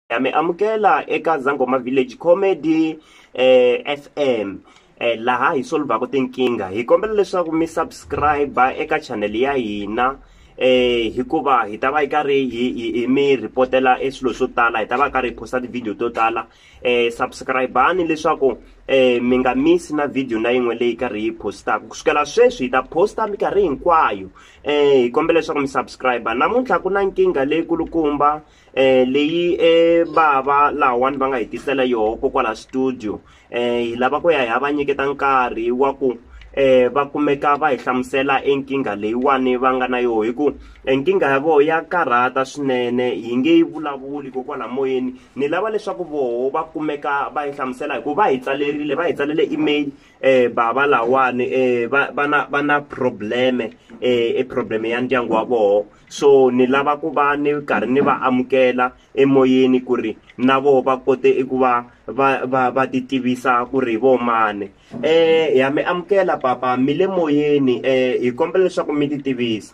ya mi amukela eka zangoma village comedy eh, fm eh, laha hi solvhaka tinkingha hi kombela leswaku mi subscribe eka channel ya hina eh hikuva hi ta va yi karhi hi mi ripotela e swilo swo tala hi ta va karhi hi posta ti-video to tala eh subscribani leswaku eh mi nga misi na video na yin'we leyi karhi yi postaka ku sukela sweswi hi ta posta mikarhi hinkwayo eh hi kombela leswaku mi subscribe namuntlha ku na nkingha leyi kulukumba eh leyi eh bava lahawani va nga hi tisela yoho kokwala studio eh hi lava ku ya hi va nyiketa nkarhi wa ku eh va kumeka va hi hlamusela enkingha leyiwani va nga na yoho hi ku enkingha ya voho ya karhata swinene hi nge yi vulavuli kokwala moyeni ni lava leswaku voho va kumeka va yi hlamusela hi ku va hi tsalerile va hi tsalele email eh bava lawani eh va va na va na probleme eh e probleme ya ndyangu wa voho so ni lava ku va ni karhi ni va amukela emoyeni ku ri na vo va kote eku va va va va ti tivisa ku ri vo mani eh ha mi amukela papa mi le moyeni eh hi kombela leswaku mi ti tivisa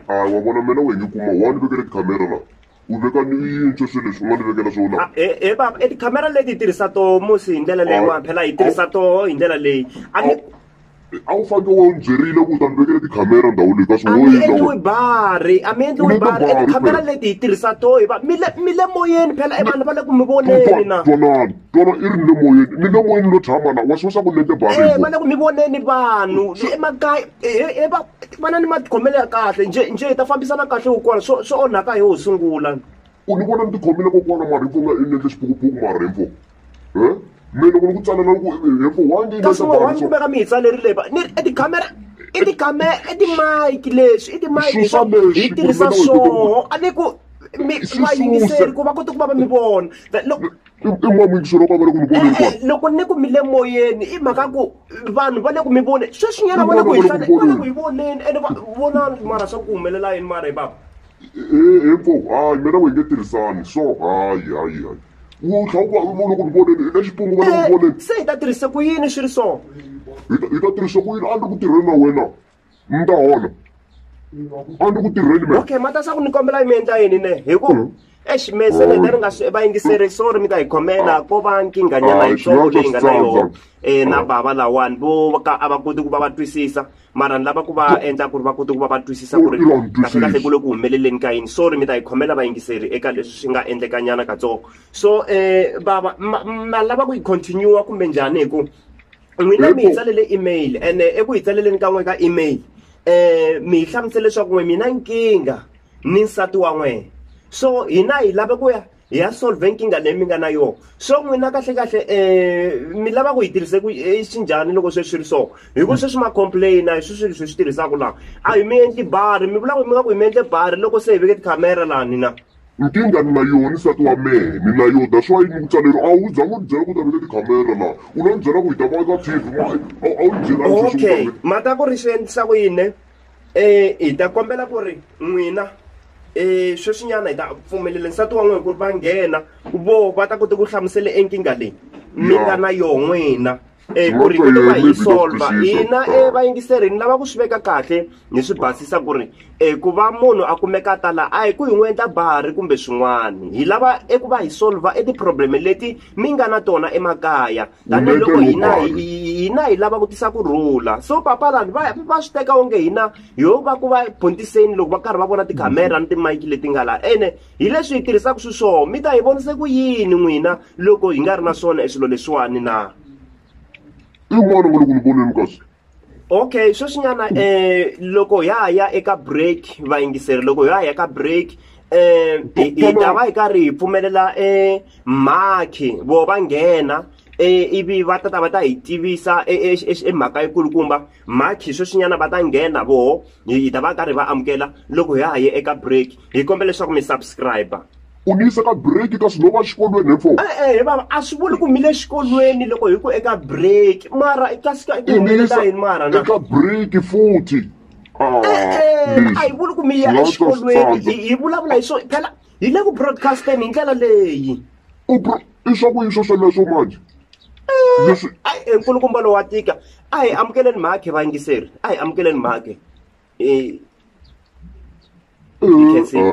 hayi wa vona mina we nge kuma wa ni vekele tikhamera la u veka ni yintshwa swilo leswi u nga ni vekela swona Ah, eh eh baba eh tikhamera leti hi tirhisa toho musi hi ndlela leyiwani phela hi tirhisa toho hi ndlela leyi a ni a wu fanele u byerile ku ta ni vekele tikhamera ndhawu leyi ka swi wo yini endliwi bari a mi endliwi bari and khamera leti hi tirhisa to hi va mi le mi le moyeni phela i vanhu va le ku mi voneni na twanani twana i ri ni le moyeni ni le moyeni lo tshama na wa swi swa ku ni endle bari eh va le ku mi voneni vanhu emakaya he va vana ni matikhomelo ya kahle nje nje hi ta fambisana kahle kokwana swo swo onhaka hi ho sungula u ni vona ni tikhomile kokwana maripfu nga i ni endle xiphukuphuku maripfu mina loko ni ku tsala na ku hikuva why ndzi kasi wa ndzi veka mi hi tsalerile va ni i tikhamera i tikhamera i timayiki leswi i timayiki leswi hi tirhisa swoho a ni ku mi va yingiseri ku va kota ku va va mi vona loko loko ni ku mi le moyeni i mhaka ku vanhu va le ku mi voneni sweswinyana va le ku hi va le ku hi voneni ene va vonani mara swa ku humelela yini mara hi bava info hayi mina we nge tirhisani so hayi hayi hayi u tlha u ku vona ku voneni eka xipungu vona ku voneni se hi ta tirhisa ku yini swi ri so hi ta tirhisa ku yini a ni ku tirheni na wena mi ta hola a ni ku tirheni me okay mata sa ku ni kombela yi mi endla yini ne hi ku hmm. eximese leta ri nga swi va yingiseri sorry mi ta hi khomela ko va nkinganyana yitsongo leyi nga na yona um na bava lawani vo ka a va koti ku va va twisisa mara ni lava ku va endla ku ri va kota ku va va twisisa ku ri kahlekahle ku le ku humeleleni ka yini so ri mi ta yi khomela vayingiseri eka leswi swi nga endlekanyana katsongo so um bava ma lava ku yi continue kumbe njhani hi ku n'wina mi hi tsalele email ene eh, eku hi tsaleleni ka n'we ka email um mi hi hlamusele leswaku n'we mina nkingha ni nsati wa n'wena so hina hi lave ku ya hi ya solve nkingha leyi mi nga na yona so n'wina kahlekahle um eh, mi lava ku yi tirhise ku eh, xi njhani loko sweswi ri so hi ku sweswi ma-complaina hi swi swilo swi swi tirhisaka laha a hi mi endli bari mi vula ku mi nga ku hi mi endle bari loko se hi veke tikhamera laha ni na nkingha ni na yona nsati wa mehe ni na yona that's why ni ku tsaleriwa a wu za n'wi byela ku ta veke tikhamera laha u lo ni byela ku hi ta va ka tv a wu ni byela okay mhaka ku ri swi endlisa ku yini hi ta kombela ku ri n'wina um sweswinyana hi ta pfumelela nsati wa n'wina ku ri va nghena vo va ta kota ku hlamusela enkingha leyi mi nga na yoho n'wina um ku ri kota va hi solva hina um vayingiseri ni lava ku swi veka kahle ni swi basisa ku ri um ku va munhu a kumeka a ta laha a hi ku hi n'wi endla bari kumbe swin'wana hi lava eku va hi solva eti-problem leti mi nga na tona emakaya tanihiloko hina hina hi lava ku tisa ku rhula so papa vanhu va va swi teka onge hina yo va ku va pontiseni loko va karhi va vona tikhamera ni timayiki leti nga laha ene hi leswi hi tirhisaka swiswoho mi ta hi vonise ku yini n'wina loko hi nga ri na swona eswilo leswiwani na i n'wana wa le ku ni voneni kasi okay sweswinyana um eh, loko ya ha ya eka break vayingiseri loko ya ha ya ka break um hi ta va hi karhi hi pfumelela um eh, makhi vo va nghena E, ivi va tata va ta hi tivisa e, e, e mhaka yikulukumba makhi sweswinyana va ta nghena voho hi ta va karhi va amukela loko hi ha ye eka break hi kombela leswaku mi subscribe u ni yisa ka break ka swi no va xikolweni hi four e-e he vava a swi vuli ku mile xikolweni loko hi ku eka break mara i ta sika i ku humelela yini mara na eka break futhi e-e a hi vuli ku mi ya exikolweni hi vulavula hi swo phela hi le ku broadcasteni hi ndlela leyi i swa ku yiswa sweleswo manje leswi ayi enkulukumba lowa tika a hi amukeleni mhakhe vayingiseri a hi amukeleni mhakhe um